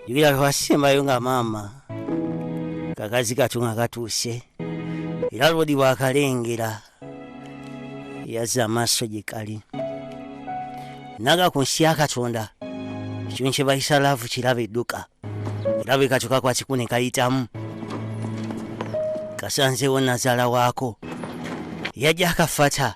yogera lwasembayo nga maama kakazi katu nga katuuse era lwodi bwakalengera yazza amaaso gye kali naga ku nsi ya katonda ekintu kye bayisa laavu kiraba edduka era bwe katyo kakwakiku ne kayitamu kasanzeewo nazaala waako yajja akafata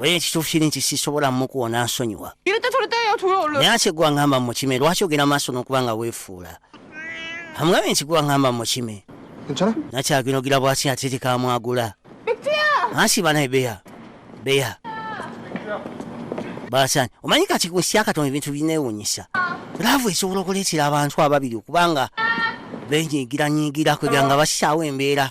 oye ekituufu kiri nti sisobola mukuwa nansonyiwa naye ate gwe angamba mukime lwaki ogenda maaso n'okuba nga weefuula amugambye nti gwe angamba mukime nakyaginogira bwaki ate tekamwagula ansi banaye beya beya basani omanyi kati ku nsi yakatonda ebintu binewunyisa laavu esobola okuleetera abantu ababiri okubanga benyigiranyigira kwegera nga basisaawo embeera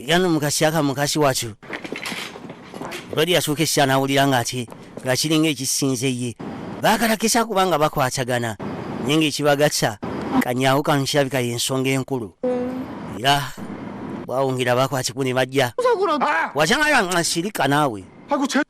yano mukasi aka mukasi watu lwali yasooka essira n'awulira nga ati nga kiringa ekisinze ye baakalakisa kubanga bakwatagana naye ng'ekibagatsa kanyaawo kano kirabika y'ensonga enkulu era bwawungira bakwatibwa ne bajja ah! wakyanga nga nsirika naawe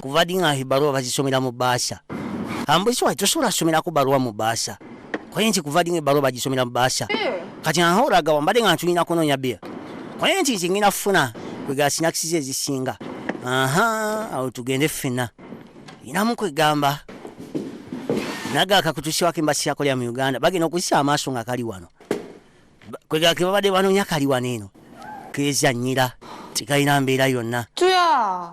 kuva ddi nga ebaluwa bazisomera mu baasa ambuzi wali tosobola somerako baluwa mu baasa kwaye nti kuva ddi nga ebaluwa bagisomera mu baasa kati ahoraga wambadde nga ntulina kunoonya bia kwaye nti nze ngenda kufuna kwegala sinakisi ze ezisinga aha awo tugende ffena inamu kwegamba naga akakutusiwako embasi yakolera mu uganda bagenda okuzisa amaaso nga kali wano Ba- kwegala kebabadde banoonya kali wano eno kezanyira tekalina mbeera yonna tuya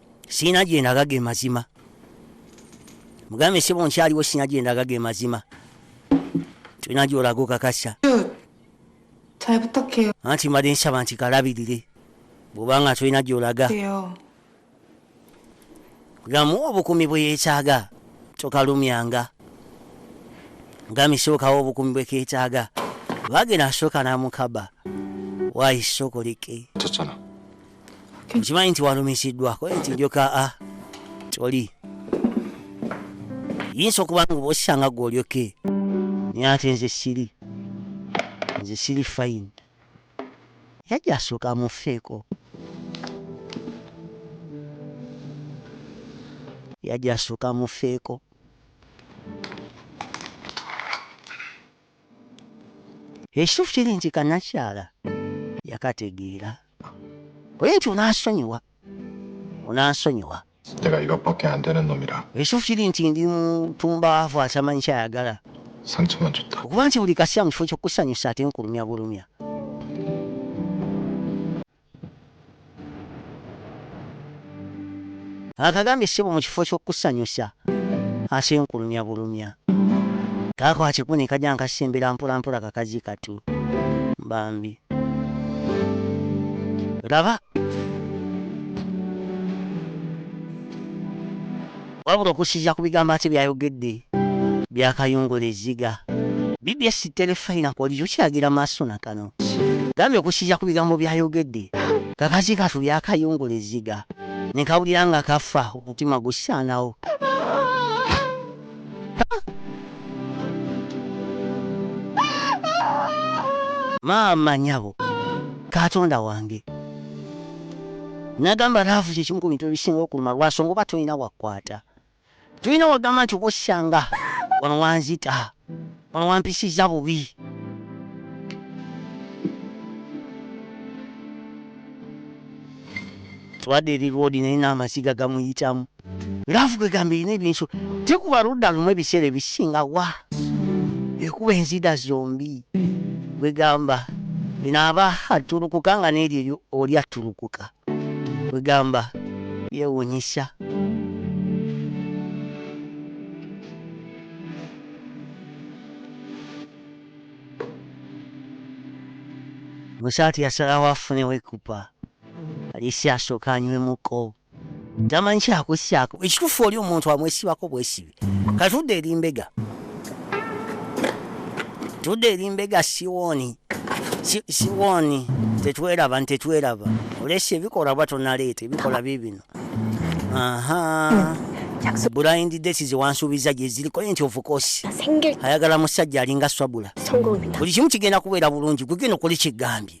sirina gyendaga ge mazima mugambe sebo nkyaliwo sirina gyendaga ge mazima tulina gyolaga okakasa anti mbadde nsaba nti kalabirire bwobanga tulina gyolaga gamu obukumi bweyetaaga tokalumyanga mugambe sookawo obukumi bweketaaga bagenda asooka namukaba wayisokoleke nkimanyi nti walumisiddwako nti njoka a ah, toli yinza okuba nga oba osanga gwe olyoke naye ate nze siri nze siri fayini yajja asooka amufeeko yajja asooka amufeeko Ekituufu kiri nti kannakyala yakategeera. Oyo nti onansonyiwa, onansonyiwa. Sijjagala your pocket ante nenumira. Ekituufu kiri nti ndi mutumbaavu atamanyi kyayagala. Sentiment utta. Okuba nti buli kaseera mu kifo ky'okukusanyusa ate nkulumya bulumya. Akagambye ssebo mu kifo ky'okukusanyusa asenkulumya bulumya. Kaako akikuba ne kajja nga kasembera mpolampola kakazi katu bambi. Laba! Wabula okussiza ku bigambo ate byayogedde byakayungula ezziga. Bbs Terefayina Kolijo kiragira maaso na kano. Gambye okussiza ku bigambo byayogedde, kakazi katu byakayungula ezziga nekawulira nga kafa, omutima gusaanawo. Maama nyabo! Katonda wange! Nagamba love kyekimu ku bintu ebisinga okuluma lwaso ngoba tolina wakwata tolina wagamba nti oba osanga wano wanzita wano wampisiza bubi. Twadde eri road naye namaziga gamuyitamu. Love kwegamba erina ebyensula tekuba ludda lumu ebiseera ebisinga wa ekuba enzida zombi kwegamba eno aba attulukuka nga neryo oli attulukuka kwegamba yewunyisa. Musaati yasalawo afunewo ekupa aliisi asooke anywemuko. tamanyi kyakusyako ekitufu oli omuntu amwesibako bwesibi katudde eri mbega tudde eri mbega siwoni Si- siwoni tetweraba ntetweraba olesi ebikola oba tonaleeta ebikola bibino aha blind date zewansuubiza gyeziriko nti ofukosi 생길 ayagala musajja alinga swabula 성공입니다. buli kimu kigenda kubeera bulungi gwegenda okole kyegambye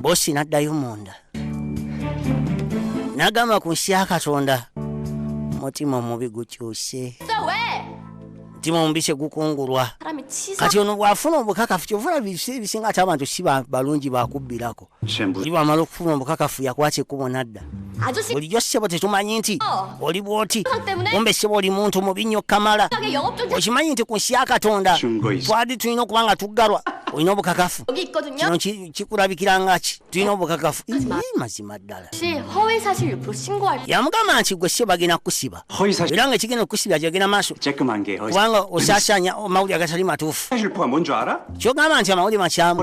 bosi n'addayo munda n'agamba ku nsi ya katonda mutima omubi gukyuse mutima omubi kyegukungulwa kati ono bw'afuna obukakafu kyovula bisi ebisinga ati abantu si balungi bakubbirako i bw'amala okufuna obukakafu yakwata ekkubo n'adda bulijjo ssebo tetumanyi nti oh. oli bw'oti kumbe ssebo oli muntu mubi nnyo kamala okimanyi nti ku nsi ya katonda twali tulina okuba nga tuggalwa olina obukakafu kino kikulabikira nga ki tulina obukakafu mazima ddala yamugamba nti gwe ssebo bagenda kukusiba era nga ekigenda okukusiba kyagenda maaso kubanga osasanya amawulire agatali matuufu kyogamba nti amawulire makyamu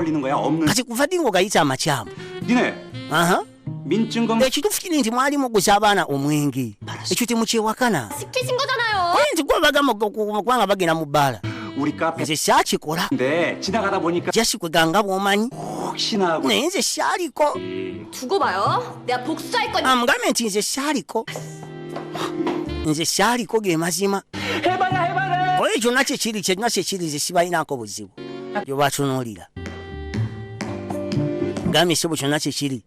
kati kuva ddi nga ogayita amakyamu ekituufu kiri nti mwali muguza abaana omwenge ekyo temukyewakana oye nti gwe bagamba kubanga bagenda mu bbaala nze syakikola jasikwiga nga bwomanyi oh, naye nze syaliko amugambe nti nze syaliko nze syaliko ge mazima oyo kyonna kyekiri kyonna kyekiri nze sibalinako buzibu gyobatunulira gambye sebo kyonna kyekiri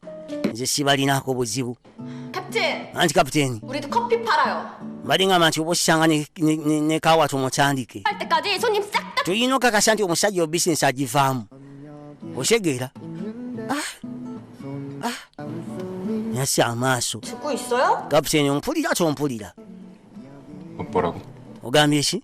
nze sibalinaako buzibu anti kapiteeni mbadde ngamba nti oba osanga ne kawa tumutandike tulina okakasa nti omusajja obisinesi agivaamu otegeera ah, ah. nasi amaaso kapiteeni ompulira tompulira ogambye ki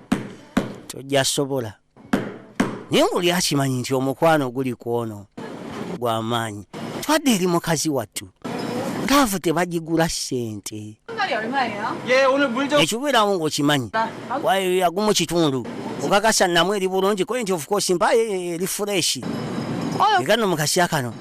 tojja sobola naye ngoli akimanyi nti omukwano guli ku ono gwamaanyi twadde eri mukazi wattu laavu tebagigula ssente ekibeerawo ngaokimanyi yagumu kitundu okakasa namu eri bulungi koye nti ofukoosi mpayo eri fureshi egano mukasya kano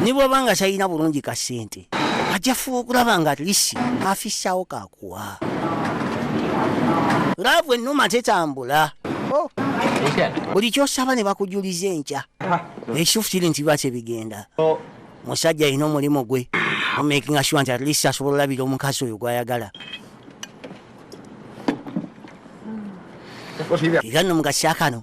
ne bwaba nga talina bulungi ka ssente ajja fuba okulaba nga lisi afissawo kakuwa laavu ennuma tetambula oh. buli kyosaba ne bakujuliza enkya ekituufu kiri nti biba kyebigenda musajja alina omulimu gwe omakinga sure nti atlist asobola olabira omukazi oyo gwayagala era no mukasya kano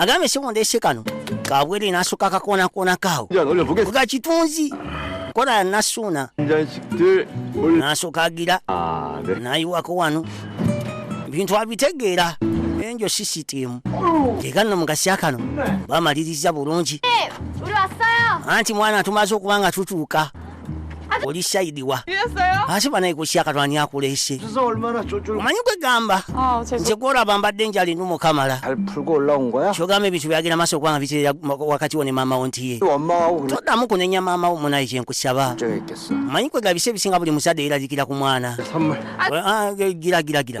agambye si mundese kano kabwere nasuka kakonakoona kawo ga kitunzi kola nasuuna nasokagira ah, nayiwako wano bintu abitegeera enjo sisitimu eganno mugasya kano bamaliriza bulungi eh, anti mwana tumaze okuba nga tutuuka oli shayidiwa ate banaye kusyakatwani akulese omanyi kwegamba oh, nze gwolaba mbadde njali numukamala kyogamba ebintu byagenda maaso okubanga biterera wakati wo ne maamawo ntiye todamu kunenya maamawo munaye kyenkusaba omanyi kwegaba bise ebisinga buli muzadde yeraliikira ku mwana ah, eh, gira gira gira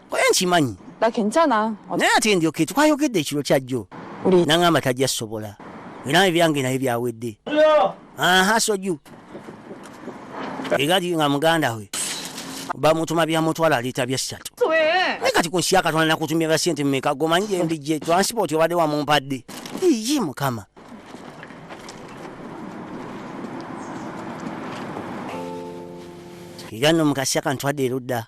koye nkimanyi naye ate ndyoke twayogedde ekiro kyajjo naŋamba tajja sobola era ebyange naye byawedde aha soju egati nga muganda we bamutuma byamutwala aliita byessatu naye kati kunsi yakatonda nakutumya bya sente mumeka gomanyi gyendijje transport obadde wamumpadde iye mukama era no mukasya kantwadde erudda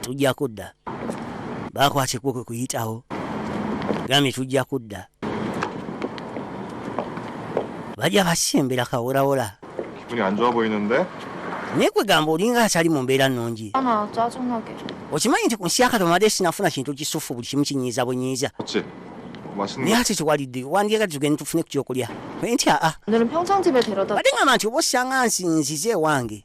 tujja kudda bakwata ekkubo kwe kuyitawo gambye tujja kudda bajja basimbira kaworawola naye kwegamba olinga atali mu mbeera nnungi okimanyi nti ku nsi yakatomadde sinafuna kintu kisufu buli kimu kinyiiza bunyiiza naye ate tewalidde wandiyaga tugende tufune ku kyokulya nti aa ate ngamba nti oba osanga nsinzize ewange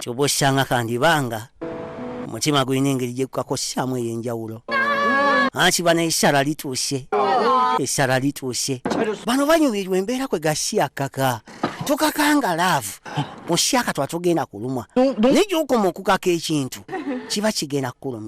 kyoba osanga kandibanga omutima gulina engeri gyekukakosyamu eyenjawulo akiba nesara lituuse esara lituuse bano banyumirwa embeera kwe gasiya kaka tukakanga laavu musyaka twatugenda kulumwa naye gyokoma okukaka ekintu kiba kigenda kukuluma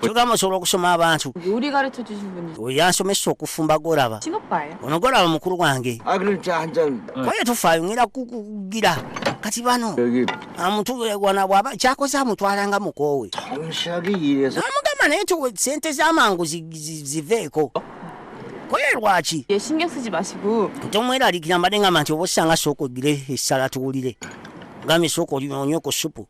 kyogamba osobola okusoma abantu yansomesa okufumba golaba ono golaba mukulu wange kwaye tufaayo ngera kukugira kati bano amuntu wana bwaba kyakoze amutwalanga mukoowe amugamba naye sente zamangu ziveeko kwaye lwaki tomweralikira mbadde ngamba nti oba osanga sooka ogire essala tuwulire ngambe sooka onywe ku supu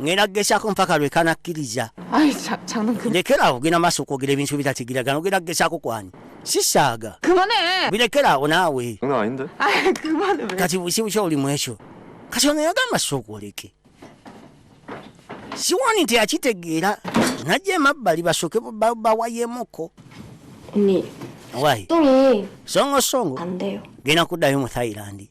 ngenda kugezaako mpaka lwe kanakkiriza lekera awo genda maaso okwogera ebintu bitatigiragana ogenda kugezaako kwani sisaaga birekera awo naawe kati busibu kyoli mu ekyo kati ono yagamba sookwoleke siwani nti akitegeera najja emabbali basooke bawayemuko songo songo genda kuddayo mu thailandi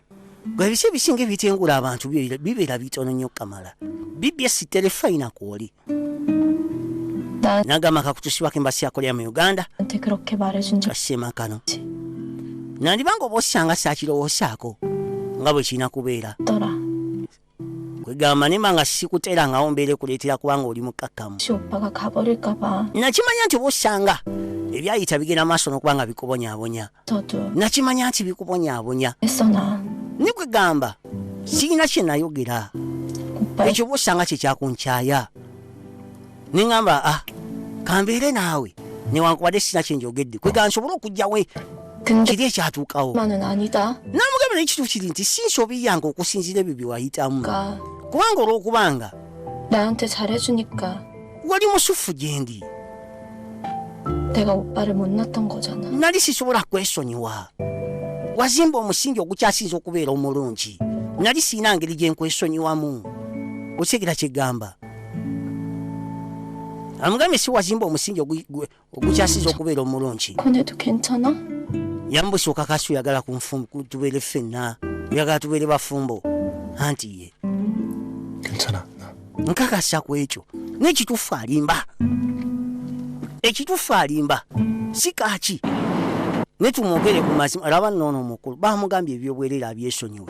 gwe biki ebisinga ebitengula abantu bibeera bitono nnyo kamala bbs terefayina kwoli nagamba kakutusibako embasi yakolera mu uganda kasema kano nandibanga oba osanga sakirowoosaako nga bwe kirina kubeera kwegamba nemba nga sikuterangawo mbeera ekuleetera kubanga oli mukkakkamu nakimanya nti oba osanga ebyayita bigenda maaso nokuba nga bikubonyabonya nakimanya nti bikubonyabonya ni kwegamba sirina kyenayogera ekyo oba osanga kyekyakunkyaya ne ŋŋamba a ah, kambeere naawe newankubadde sina kye njogedde kwega nsobole okugyawe kiri ekyatuukawo namugamba naye kituufu kiri nti si nsobi yange okusinziira ebyo bye wayitamu kubanga olw'okubanga wali musuffu gye ndi nali sisobola kwesonyiwa wazimba omusingi ogukyasinza okubeera omulungi nali siina ngeri gye nkwesonyiwamu okitegera kyegamba amugambye si wazimba omusingi ogukyasiza okubeera omulungi yambusa okakasi oyagala tubeere ffenna oyagala tubeere bafumbo anti ye nkakasa ku ekyo nekitufu alimba ekitufu alimba si kaki netumwogere ku mazima laba noono omukulu bamugambye ebyobwerera abyesonyiwe